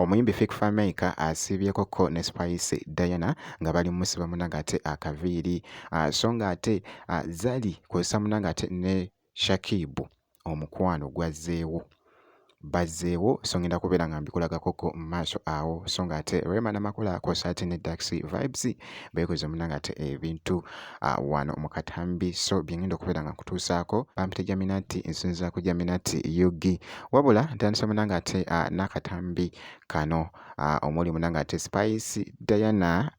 Omuyimbi Fik Fameica asiibyekokko ne Spice Diana nga bali mu musiba munange ate akaviiri ah, so nga ate ah, Zari kw'ossa munange ate ne Shakib omukwano gwazzeewo. bazzeewo so ngenda kubeera nga mbikulagako ko mu maaso awo so nga ate rema namakula kosa ate ne dax vibes beekoze muna nga ate ebintu uh, wano mu katambi so byengenda okubeera nga nkutuusaako bampita jaminati nsinza ku jaminati ug wabula ntandise muna nga ate uh, n'akatambi kano uh, omuli muna nga ate spice diana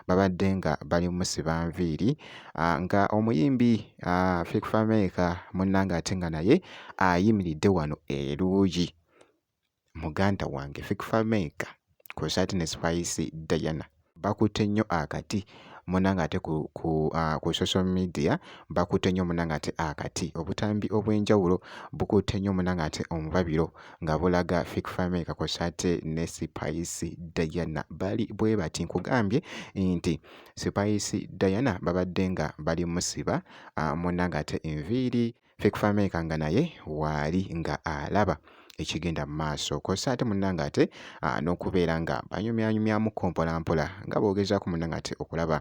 babadde nga bali musiba nviiri ah, nga omuyimbi ah, Fik Fameka munnange ate nga naye ayimiridde wano eruuyi muganda wange Fik Fameka kusaati ne Spice Diana bakutte nnyo akati munanga ate ku, ku, uh, ku social media bakutte nnyo munanga ate akati obutambi obw'enjawulo bukutte nnyo munanga ate omubabiro nga bulaga Fik Family kakosa ate ne Spice Diana bali bwe bati nkugambye nti Spice Diana babadde nga bali musiba ah, munna ng'ate enviiri Fik Family nga naye waali nga alaba ekigenda mu maaso kosa ate munnange ate n'okubeera nga banyumyanyumyamu kompolampola nga boogezaako munnange ate okulaba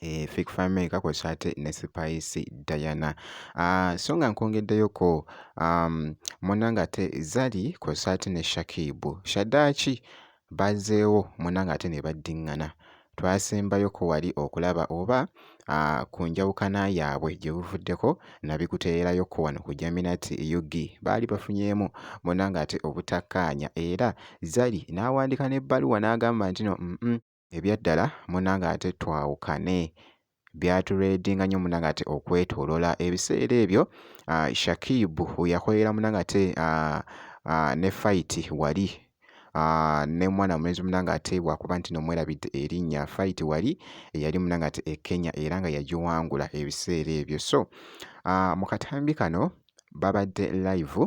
eh, fake family kakozesa ate ne spice diana uh, so nga nkwongeddeyoko um, munanga ate zali kozesa ate ne shakibu shadaki bazeewo munanga ate ne baddingana twasembayo ko wali okulaba oba uh, ku njawukana yaabwe gye buvuddeko nabikuteerayo ko wano ku jaminati ug baali bafunyeemu munanga ate obutakkaanya era zali n'awandiika n'ebbaluwa n'agamba nti no mm -mm. ebyaddala munnange ate twawukane byatureedinga nnyo munnange ate okwetoolola ebiseera ebyo ah, Shakib yakolera munnange ate ah, ah, ne fayiti wali Ah, ne mwana mulenzi munanga ate bwakuba nti nomwerabidde erinnya fight wali eyali munanga ate e Kenya era nga yagiwangula ebiseera ebyo so ah, mu katambi kano babadde live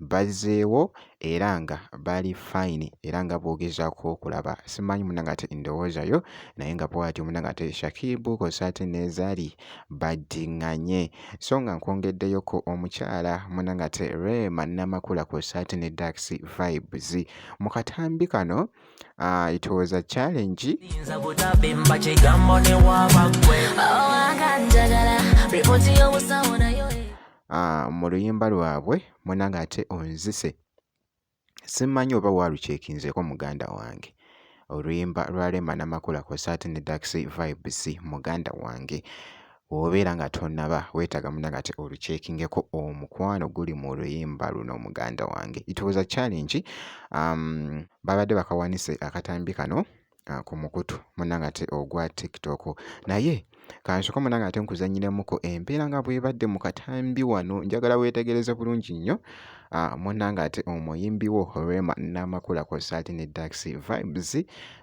bazzeewo era nga bali fine era nga bwogezaako okulaba simanyi munange ate ndowooza yo naye nga bwatyo munange ate shakibu kosa ate nezali baddiŋŋanye so nga nkwongeddeyoko omukyala munange ate rema namakula kosa ate ne dax vibes mu katambi kano uh, it was a challenge ah, mu luyimba lwabwe munange ate onzise simanyi oba walucekinzeeko muganda wange oluyimba lwa Rema Namakula kw'ossa ate ne Dax Vibes muganda wange wobeera nga tonaba weetaaga muna nga te olukyekingeko omukwano guli mu luyimba luno muganda wange it was a challenge um, babadde bakawanise akatambi kano ah, ku mukutu munange ate ogwa tiktok naye kansoka munange ate nkuzanyiramuko empeera nga bwebadde mu katambi wano njagala weetegereze bulungi nnyo ah, munange ate omuyimbiwo rema namakula kosaati ne daxi vibes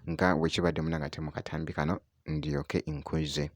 nga wekibadde munange ate mu katambi kano ndyoke nkuze okay,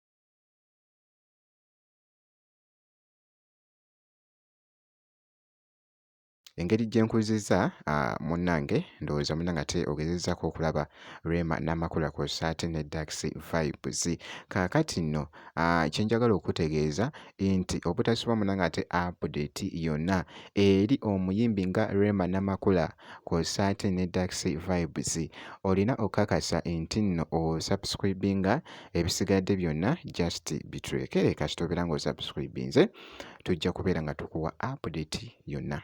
engeri gye nkuzizza ah, munnange ndowooza muna ngate ogezezaako okulaba rema n'amakula kwossa ate ne dax vibes kaakati nno ah, kye njagala okutegeeza nti obutasubwa muna ngate update yonna eri omuyimbi nga rema n'amakula kw'ossa ate ne Dax Vibes. Olina okukakasa nti nno osubscribinga ebisigadde byonna just bitulekere kasita obeera ng'osubscribinze tujja kubeera nga tukuwa update yonna.